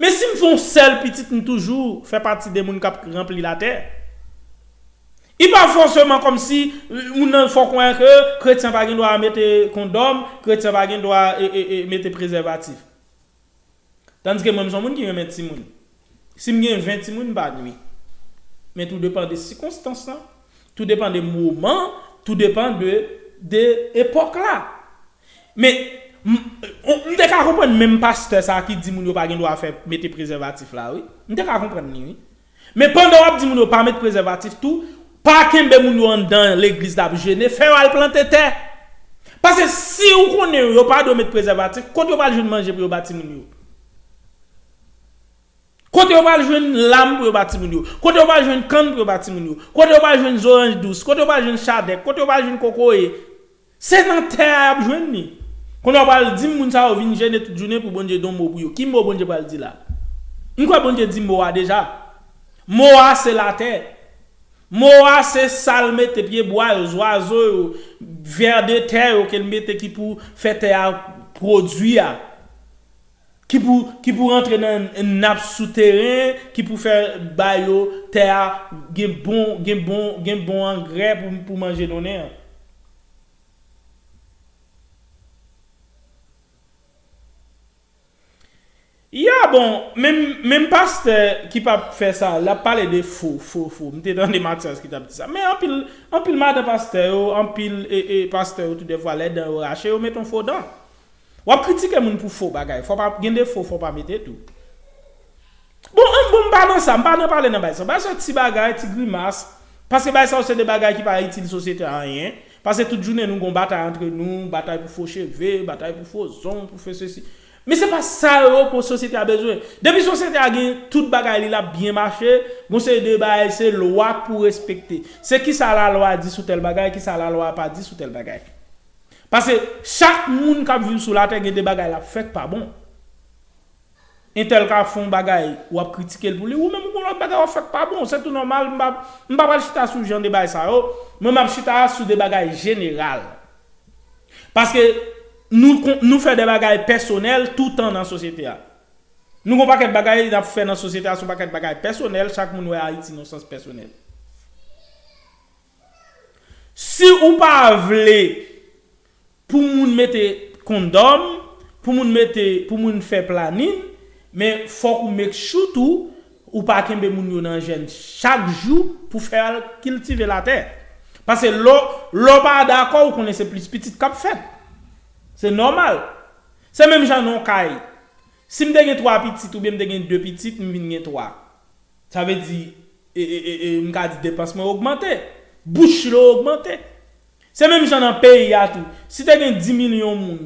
Men si m fè yon sèl pitit m toujou fè pati de moun k ap ranpli latè. I pa fòseman kòmsi moun nan fè w konnen ke kretyen pa gen dwa mete kondòm, kretyen pa gen dwa mete prezèvatif. Tandiske mwen m son moun ki renmen timoun. Si m gen 20 timoun m pa nui. Men tou depan de sikonstans lan, Tou depan de moman, tou depan de de epòk la. Men, m m te ka konprann menm pastè sa ki di moun yo pa gen dwa fè mete prezèvatif la wi. M te ka konprann li wi. Men pandan w ap di moun yo pa met prezèvatif tou, pa kenbe moun yo anndan legliz l ap jene, fè yo al plante tè. Pase si ou konnen yo pa dwe met prezèvatif, kot yo pral jwenn manje pou yo ba timoun yo? Kote yo pral jwenn lam pou yo bat timoun yo? Kote yo pral jwenn kann pou yo bat timoun yo? Kote yo pral jwenn zoranj dous? Kote yo pral jwenn chadèk? Kote yo pral jwenn kokoye? Se nan tè a y ap jwenn li. Kon a w pral di m moun sa yo vin jene tout jounen pou Bondye di yon mo pou yo. Ki mo Bondye pral di la? M kwè Bondye di mo a deja. Mo a se latè. Mo a se sa l mete pye bwa yo, zwazo yo, vè de tè yo ke l mete ki pou fè tè a pwodui a. Ki pou ki pou rantre nan nap sou teren ki pou fè ba yo tè a gen bon gen bon gen bon angrè pou pou manje donnen an. Ya bon menm menm pastè ki pap fè sa lap pale de fo fo fo m te tande Matyas ki tap di sa men anpil anpil madan pastè yo anpil e e pastè yo tou dèfwa lè dan yo rache yo met on fo dan. Wap kritike moun pou fo bagay fò pa gen defo fò pa mete tou bon an bon mpa nan sa mpa nan pale nan bay sa bay sa ti bagay ti grimas paske bay sa yo se de bagay ki pa itil sosyete a anyen paske tout jounen nou gon batay antre nou batay pou fo cheve batay pou fo zong pou fo sesi men se pa sa yo pou sosyete a bezwen depi sosyete a gen tout bagay li lap byen mache gon seri de bay se lwa k pou respekte se kisa lalwa di sou tèl bagay kisa lalwa a pa di sou tèl bagay. Pase chak moun kap viv sou latè gen de bagay lap fè k pa bon. Entèl ka fon bagay wap kritike l pou li, ou menm ou gon lòt bagay wap fè k pa bon, se tou nòmal m pa m pa pral chita sou jan de bagay sa yo, mwen map chita a sou de bagay jeneral. Paske nou kon nou fè de bagay pèsonèl toutan nan sosyete a. Nou gon pakèt bagay nap fè nan sosyete a son pakèt bagay pèsonèl, chak moun wè Ayiti nan sans pèsonèl. Si ou pa vle pou moun mete kondòm, pou moun mete, pou moun fè planin, men fòk ou make sure tou ou pa kenbe moun yo nan jèn chak jou pou fè al kiltive latè. Pase lè w, lè w pa dakò ou konnen se plis pitit k ap fèt. Se nòmal. Se menm jan nan yon kay. Si m te gen 3 pitit oubyen m te gen 2 pitit m vin gen 3. Sa vle di, m ka di depans mwen ogmante. Bouch chilo yo ogmante. Se menm jan nan peyi a tou. Si te gen 10 milyon moun,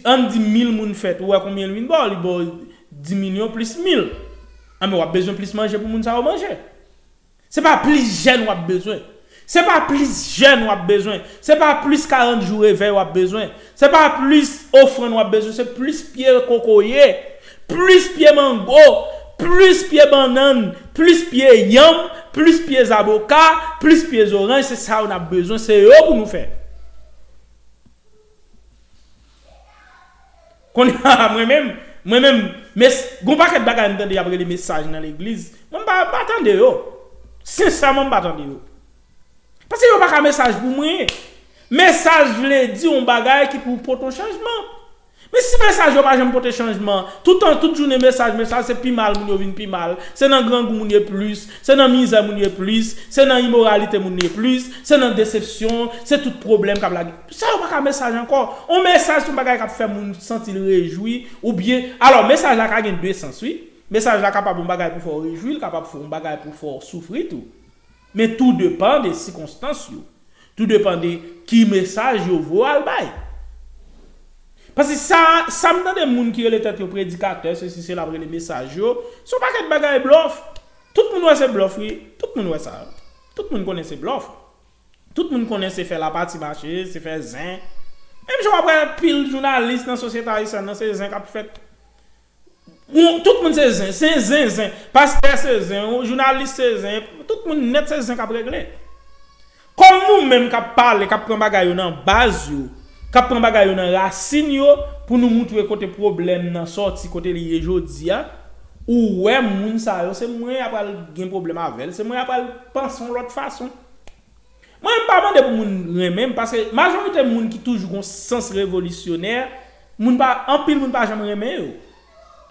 an n di mil moun fèt, ou wè konbyen l vin ba w? Li ba w 10 milyon plis mil. Anben w ap bezwen plis manje pou moun sa yo manje. Se pa plis jèn w ap bezwen. Se pa plis jèn wap bezwen, se pa plis 40 jou revèy wap bezwen, se pa plis ofrann wap bezwen se plis pye kokoye, plis pye mango, plis pye bannann, plis pye yanm, plis pye zaboka, plis pye zoranj se sa yo nap bezwen se yo pou nou fè. Konnya mwen menm, mwen menm mes gon pakèt bagay m tande yap rele mesaj nan legliz mwen m pa m pa tande yo sensèman m pa tande yo paske yo paka mesaj pou mwen mesaj vle di yon bagay ki pou pot yon chanjman men si mesaj yo pa janm pote chanjman toutan tout jounen mesaj mesaj se pi mal moun yo vin pi mal se nan grangou moun ye plis se nan mizè moun ye plis se nan imoralite moun ye plis se nan desepsyon se tout pwoblèm kap lage. Sa yo pa ka mesaj ankò. On mesaj se yon bagay k ap fè moun santi l rejwi oubyen Alò, mesaj la ka gen de sans wi. Mesaj la kapab yon bagay pou fè w rejwi, l kapab yon bagay pou fè w soufri tou. Men tou depan de sikonstans yo. Tou depan de ki mesaj yo vle w al bay. Paske sa sa m tande moun ki rele tèt yo predikatè sesi sela ap rele mesaj yo, se yon pakèt bagay blòf. Tout moun wè se blòf wi. Tout moun wè sa. Tout moun konnen se blòf. Tout moun konnen se fè lapati mache, se fè zen. Menm jan w ap wè anpil jounalis nan sosyete ayisyèn nan, se zen k ap fèt. Tout moun se zen. Se zen zen. Pastè se zen. Jounalis se zen. Tout moun nèt se zen k ap regle. Kòm nou menm k ap pale, k ap pran bagay yo nan baz yo, k ap pran bagay yo nan rasin yo pou nou moutre kote pwoblèm nan sòti, kote li ye jodi a, ou wè moun sa yo se mwen y apral gen pwoblèm avè l, se mwen y apral panse yon lòt fason. Mwen pa mande pou moun renmen m paske majorite moun ki toujou gon sans revolisyonè moun pa anpil moun pa janm renmen yo.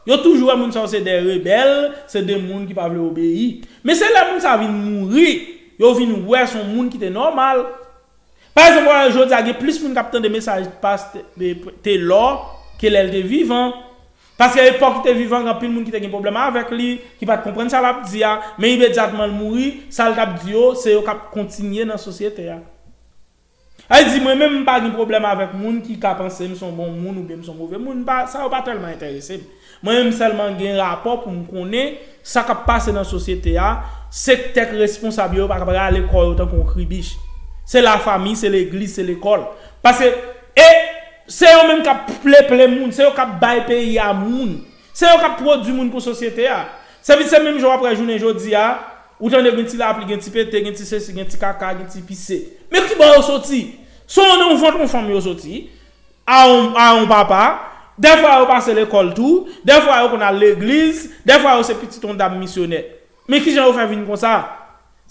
Yo toujou wè moun sa yo se de rebèl, se de moun ki pa vle obeyi. Men se lè moun sa vin mouri yo vin wè son moun ki te nòmal. Pa egzanp wè jodi a gen plis moun kap tande mesaj past Telor ke lèl te vivan. Paske epòk li te vivan gen anpil moun ki te gen pwoblèm avèk li, ki pa t konprann sa l ap di a, men imedyatman l mouri, sa l t ap di yo, se yo k ap kontinye nan sosyete a. Sa vle di, mwen menm m pa gen pwoblèm avèk moun ki ka panse m se yon bon moun oubyen m se yon move moun, m pa, sa yo pa tèlman enterese m. Mwen menm m sèlman gen rapò pou m konnen sa k ap pase nan sosyete a, sektè k responsab yo, yo pa kab rale kò yo tankou yon kribich. Se lafami, se legliz, se lekòl. Paske, e. Se yo menm kap pleple moun, se yo kap bay peyi a moun. Se yo kap pwodwi moun pou sosyete a. Se vit se menm jan wap wè jounen jodi a, ou tande gen ti lapli, gen ti pete, gen ti sesi, gen ti kaka, gen ti pise. Men ki bò yo soti? Se nan yon vant yon fanm yo soti, a yon papa, dèfwa yo pase lekòl tou, dèfwa yo konn al legliz, dèfwa yo se pitit yon dam misyonè. Men kijan yo fè vin konsa?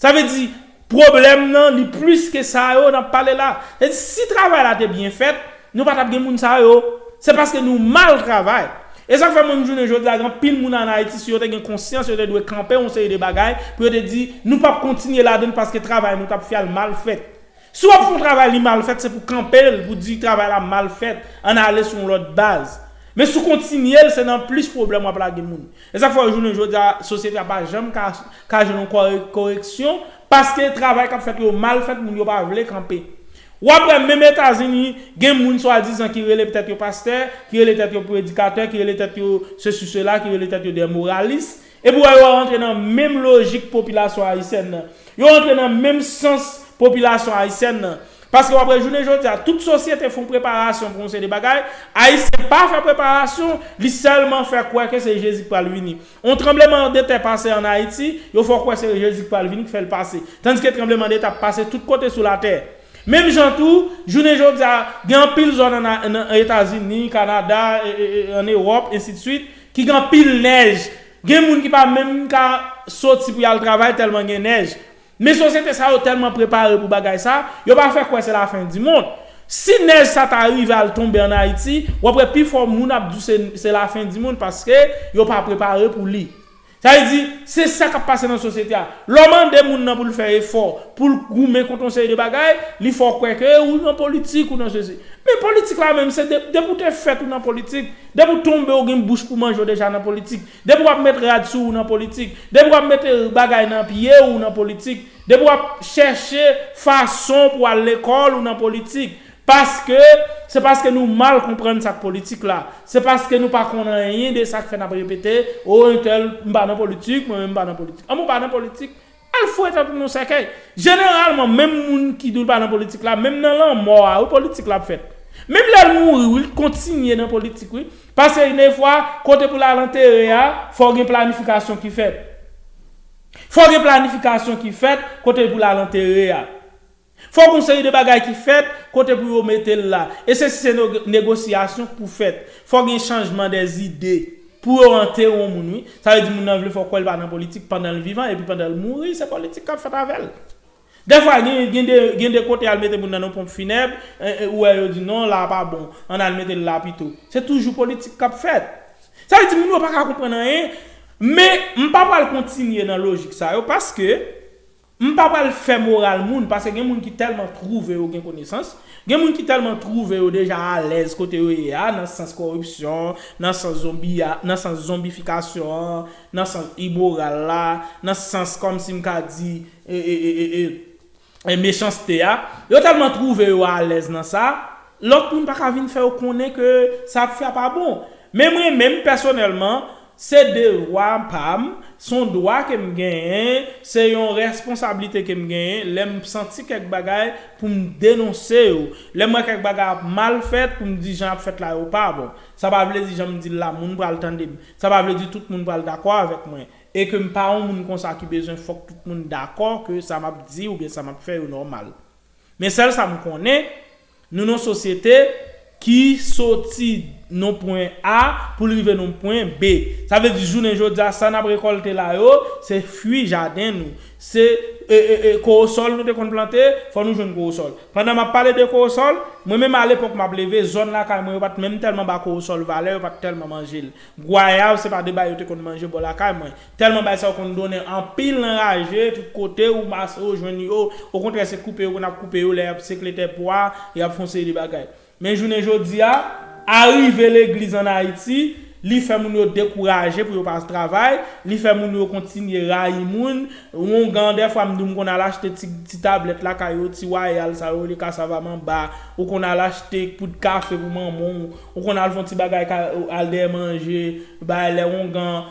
Sa vle di, pwoblèm nan li plis ke sa yo n ap pale la. Sa vle di, si travay la te byen fèt, nou pa t ap gen moun sa yo. Se paske nou mal travay. E sa k fè menm jounen jodi a, gen anpil moun ann Ayiti, si yo te gen konsyans, yo te dwe kanpe yon seri de bagay pou yo te di, nou p ap kontinye ladann paske travay nou t ap fè a, l mal fèt. Si wap fè yon travay li mal fèt se pou kanpel pou di travay la mal fèt ann ale sou yon lòt baz. Men si w kontinye l se nan plis pwoblèm wap lage moun. E sa k fè jounen jodi a sosyete a pa janm ka ka jwenn yon koreksyon paske travay kap fèt yo mal fèt moun yo pa vle kanpe. Wap wè menm Etazini gen moun swadizan ki rele tèt yo pastè, ki rele tèt yo predikatè, ki rele tèt yo sesi sela, ki rele tèt yo dè moralis, Epi ou wè yo rantre nan menm lojik popilasyon ayisyèn nan. Yo rantre nan menm sans popilasyon ayisyèn nan. Paske wap wè jounen jodi a, tout sosyete fon preparasyon pou yon seri de bagay, ayisyen pa fè preparasyon, li sèlman fè kwè ke se Jezi ki pral vini. Yon tranbleman de tè pase an Ayiti, yo fè w kwè se Jezi ki pral vini ki fè l pase. Tandiske tranbleman de tè ap pase tout kote sou latè. Menm jan tou, jounen jodi a, gen anpil zòn an Etazini, Kanada, an Ewòp, ensi de swit, ki gen anpil nèj, gen moun ki pa menm ka soti pou y al travay tèlman gen nèj. Men sosyete sa yo tèlman prepare pou bagay sa, yo pa fè kwè se lafendimond. Si nèj sa ta rive al tonbe ann Ayiti, w ap wè pifò moun ap di w se lafendimond paske yo pa prepare pou li. Sa vle di, se sa k ap pase nan sosyete a. Lè w mande moun nan pou l fè efò, pou l goumen kont yon seri de bagay, li fè w kwè ke ou nan politik, ou nan sesi. Men politik la menm, se depi ou te fèt ou nan politik, depi ou tonbe ou gen bouch pou manje ou deja nan politik, depi w ap met rad sou ou nan politik, depi w ap mete bagay nan pye ou ou nan politik, depi w ap chèche fason pou w al lekòl ou nan politik, Paske, se paske nou mal konprann sa k politik la. Se paske nou pa konn anyen de sa k fè n ap repete, oh entèl, m pa nan politik, mwen menm m pa nan politik. Anben w pa nan politik, al fouwe tèt ou nan sèkèy. Jeneralman, menm moun ki di l pa nan politik la, menm nan lanmò a wi politik la ap fèt. Menm lè l mouri wi, l kontinye nan politik wi. Paske gen defwa, kote pou l al antere a, fò gen planifikasyon ki fèt. Fò gen planifikasyon ki fèt, kote pou l al antere a. Fok yon seri de bagay ki fèt, kote pou yo mete l la. E se si se negosyasyon k pou fèt. Fok gen chanjman dè zide. Pou yo anteron moun wi. Sa vle di moun nan vle fè w kwè l pa nan politik pandan l vivan epi pandan l mouri se politik k ap fèt avè l. Dè fwa gen de kote y al mete moun nan yon ponp finèb, ou wè yo di non la a pa bon, ann al mete l la pito. Se toujou politik k ap fèt. Sa vle di moun yo pa ka konprann anyen. Men m pa pral kontinye nan lojik sa yo paske M pa pral fè moral moun, pase gen moun ki tèlman twouve yo gen konesans, gen moun ki tèlman twouve yo deja alèz kote yo ye a, nan sans kòripsyon, nan sans zonbiya, nan sans zonbifikasyon an, nan sans imoral la, nan sans kòmsi m ka di e, e, e, e, e, mechanste a. Yo tèlman twouve yo alèz nan sa, lòt moun pa ka vin fè yo konnen ke sa y ap fè a pa bon. Men mwen menm, pèsonèlman, Se devwa pa m, s on dwa ke m genyen, se yon responsablite ke m genyen lè m santi kèk bagay pou m denonse yo, lè m wè kèk bagay ap mal fèt pou m di jan y ap fèt la yo pa bon. Sa pa vle di jan m di l la moun pral tande m, sa pa vle di tout moun pral dakò avèk mwen e ke m pa yon moun konsa ki bezwen fòk tout moun dakò ke sa m ap di oubyen sa m ap fè yo nòmal. Men sèl sa m konnen, Nou nan yon sosyete ki soti nan yon pwen A pou l rive nan yon pwen B. Sa vle di jounen jodi a, sa n ap rekòlte la yo, se fwi jaden nou. Se kowosòl nou te konn plante, fò nou jwenn kowosòl. Pandan m ap pale de kowosòl, mwen menm alepòk m ap leve, zòn lakay mwen yo pa t menm tèlman ba kowosòl valè, yo pa t tèlman manje l. Gwayav se pa de bagay yo te konn manje bò lakay mwen. Tèlman bagay sa yo konn donnen anpil nan raje, tout kote ou pase ou jwenn yo, okontrè se koupe yo konn ap koupe yo lè y ap sekletè pwa, y ap fè yon seri de bagay. Men jounen jodi a, arive legliz ann Ayiti, li fè moun yo dekouraje pou yo pa travay, li fè moun yo kontinye rayi moun, oungan dèfwa m di w m konn al achte ti ti tablèt lakay yo, ti wayal sa yo rele kasavamanba, ou konn al achte poud kafe pou manman w, Ou konn al fon ti bagay kay al dèyè manje bay lè ongan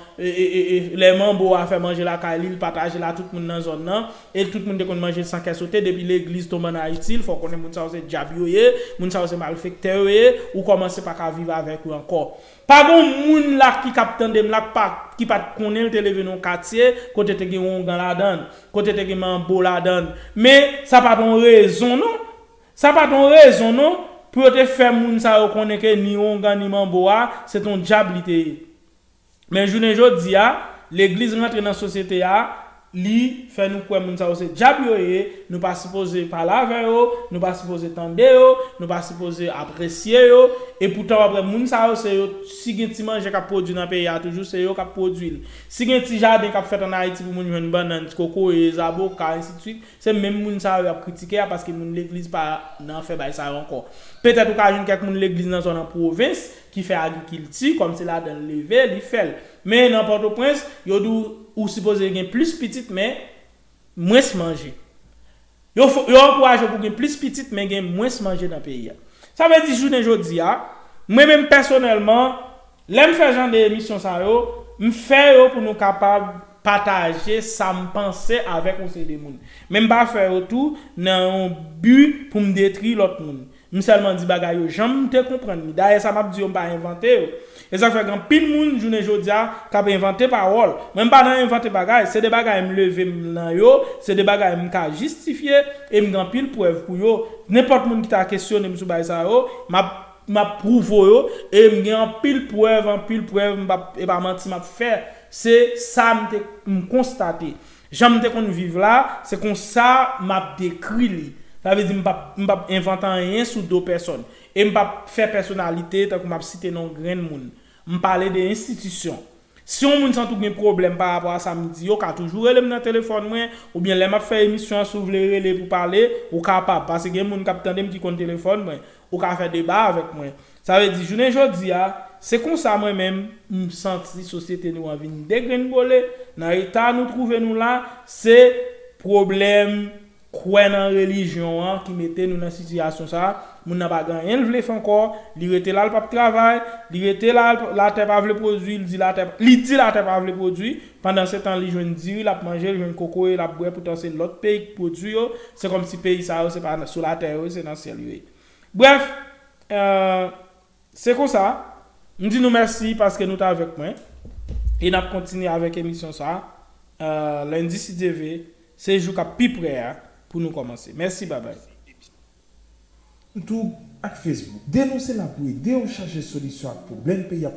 lè manbo a fè manje lakay li li pataje la tout moun nan zòn nan e tout moun te konn manje san kè sote depi legliz tonbe an ayiti fò konnen moun sa yo se djab yo ye moun sa yo se malfektè yo ye ou kòmanse paka viv avèk yo ankò pa gon moun la ki kap tandem la pa ki pat konnenl te leve nan yon katye kote te gen ongan ladann kote te gen manbo ladann men sa pat yon rezon non Sa pa t on rezon non pou yo te fè moun sa yo konnen ke ni Ongan ni Manbo a se t on djab li te ye. Men jounen jodi a, legliz rantre nan sosyete a, li fè nou kwè moun sa yo se djab yo ye, nou pa sipoze pale avè yo, nou pa sipoze tande yo, nou pa sipoze apresye yo, e poutan w ap wè moun sa yo se yo, si gen ti manje k ap pwodui nan peyi a toujou se yo k ap pwodui l. Si gen ti jaden k ap fèt an Ayiti pou moun jwenn bannann, ti kokoye, zaboka, ensidswit, Se menm moun sa yo y ap kritike a paske moun legliz pa nan fè bay sa yo ankò. Petèt ou ka jwenn kèk moun legliz nan zòn an pwovens ki fè agrikilti, kòm se ladan l leve, li fè l. Men nan Pòtoprens, yo di w ou sipoze gen plis pitit men mwens manje. Yo fè w, yo ankouraje w pou w gen plis pitit men gen mwens manje nan peyi a. Sa vle di jounen jodi a, mwen menm pèsonèlman, Lèm fè jan de emisyon sa yo, m fè yo pou nou kapab pataje sam panse avèk yon seri de moun. Men m pa fè yo tou nan yon bi pou m detri lòt moun. M sèlman di bagay yo janm te konprann li. Dayè sa map di yo m pa envante yo. E sak fè gen anpil moun jounen jodia kap envante pawòl. Mwen m pa nan envante bagay, se de bagay m leve m nan yo, se de bagay m ka jistifye e m gen anpil prèv pou yo. Nenpòt moun ki ta kesyonem sou bay sa yo, map. Map prouvo yo e m gen anpil prèv anpil prèv m pap epa manti map fè se sa m te m konstate jan m te konn viv la se konsa map dekri li sa vle di m pap m pap envante anyen sou do pèsòn e m pap fè pèsonalite tankou map site non grenn moun m pale de enstitisyon Si yon moun santi w gen pwoblèm pa rapò a sa m di yo, ka toujou rele m nan telefòn mwen, oubyen lè m ap fè emisyon an si w vle rele pou pale, ou kapab, pase gen moun k ap tande m ki konn telefòn mwen, ou ka fè deba avèk mwen. Sa vle di jounen jodi a, se konsa mwen menm, m santi sosyete nou an vin degrenngole, nan eta nou twouve nou la, se pwoblèm kwè nan relijyon an ki mete nou nan sitiyasyon sa, moun nan pa gen anyen l vle fè ankò, li rete la l pap travay, li rete la latè pa vle pwodwi, li di latè li di latè pa vle pwodwi, pandansetan li jwenn diri l ap manje, li jwenn kokoye l ap bwè poutan se lòt peyi k pwodwi yo, se kòmsi peyi sa yo se pa sou latè yo ye se nan syèl yo ye. Brèf, Se konsa, m di nou mèsi paske nou t avèk mwen e n ap kontinye avèk emisyon sa a lendi si Dye ve, se jou k ap pi pre a pou nou kòmanse. Mèsi babay. Youtube ak Facebook. Denonse la pou ede yo chache solisyon ak pwoblèm peyi ap.